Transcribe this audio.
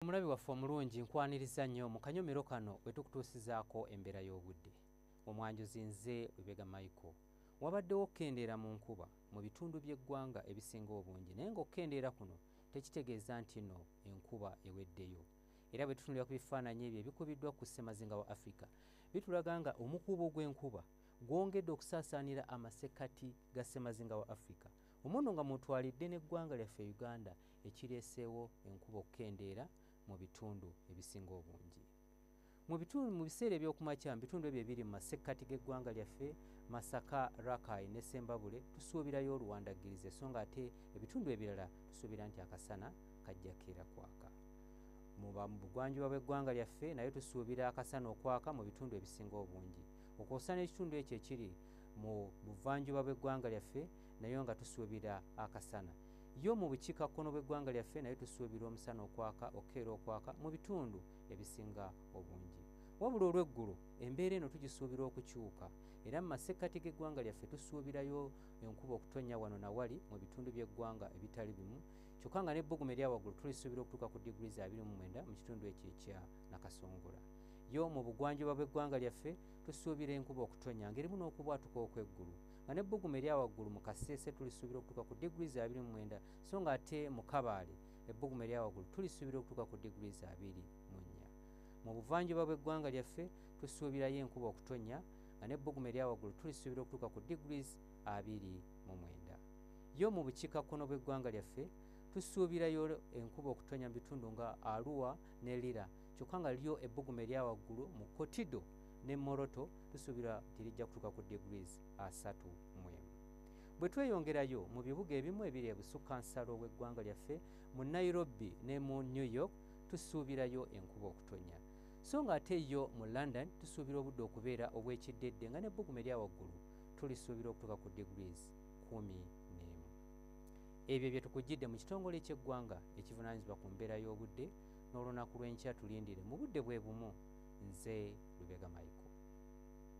omulabi waffe omulungi nkwaniriza nnyo mu kanyomero kano we tukutuusizaako embeera y'obudde omwanjuzi nze lubega michael wabaddewo okukendeera mu nkuba mu bitundu by'eggwanga ebisinga obungi naye ng'okukendeera kuno tekitegeeza nti no enkuba eweddeyo era bwe tutunulira ku bifaananyi ebyo ebikubiddwa ku ssemazinga wa afrika bitulaga nga omukuubo gw'enkuba gwongedde okusaasaanira amasekkati ga ssemazinga wa afrika omuno nga mutwalidde n'eggwanga lyaffe uganda ekireeseewo enkuba okukendeera mu bitundu ebisinga obungi mu bitundu mu biseera ebyokumakya mu bitundu ebyo ebiri mu masekkati g'eggwanga lyaffe masaka rakai ne sembabule tusuubirayo oluwandaggirize so nga ate ebitundu ebirala tusuubira nti akasana kajja keera kwaka mu bugwanjuba bw'eggwanga lyaffe naye tusuubira akasana okwaka mu bitundu ebisinga obungi okwosana ekitundu ekyo ekiri mu buvanjuba bw'eggwanga lyaffe nayo nga tusuubira akasana yo mu bukiika kkono bw'eggwanga lyaffe nayo tusuubirwa omusana okwaka okukeera okwaka mu bitundu ebisinga obungi wabula olw'eggulo embeera eno tugisuubirwa okukyuka era mu masekkati g'eggwanga lyaffe tusuubirayo enkuba okutonnya wano na wali mu bitundu by'eggwanga ebitali bimu kyokka nga n'ebbugumu erya waggulu tulisuubira okutuuka ku diguli za 29 mu kitundu ekyo ekya nakasongola yo mu bugwanjuba bw'eggwanga lyaffe tusuubira enkuba okutonnya ng'erimu n'okubwatuka okw'eggulu nga ne bbugumu erya waggulu mu kaseese tulisuubira okutuuka ku degrees abiri mu mwenda so nga ate mu kabaale ebbugumu erya waggulu tulisuubira okutuuka ku degrees abiri mu nnya mu buvanjuba bw'eggwanga lyaffe tusuubirayo enkuba okutonnya nga ne bbugumu erya waggulu tulisuubira okutuuka ku degrees abiri mu mwenda yo mu bukiikakkono bw'eggwanga lyaffe tusuubirayo enkuba okutonnya mu bitundu nga aluwa ne lira kyokka nga lyo ebbugumu erya waggulu mu kotido ne moroto lisuubirwa nti lijja kutuuka ku degrees asatu mu emu bwe tweyongerayo mu bibuga ebimu ebiri ebusukka nsalo w'eggwanga lyaffe mu nairobi ne mu new york tusuubirayo enkuba okutonya so nga ate yo mu london tusuubira obudde okubeera obw'ekiddedde nga n'ebbugumu erya waggulu tulisuubira okutuuka ku degrees kumi n'emu ebyo bye tukugidde mu kitongole ky'eggwanga ekivunaanyizibwa ku mbeera y'obudde n'olunaku lw'enkya tulindire mu budde bwe bumu. Nze Lubega Michael.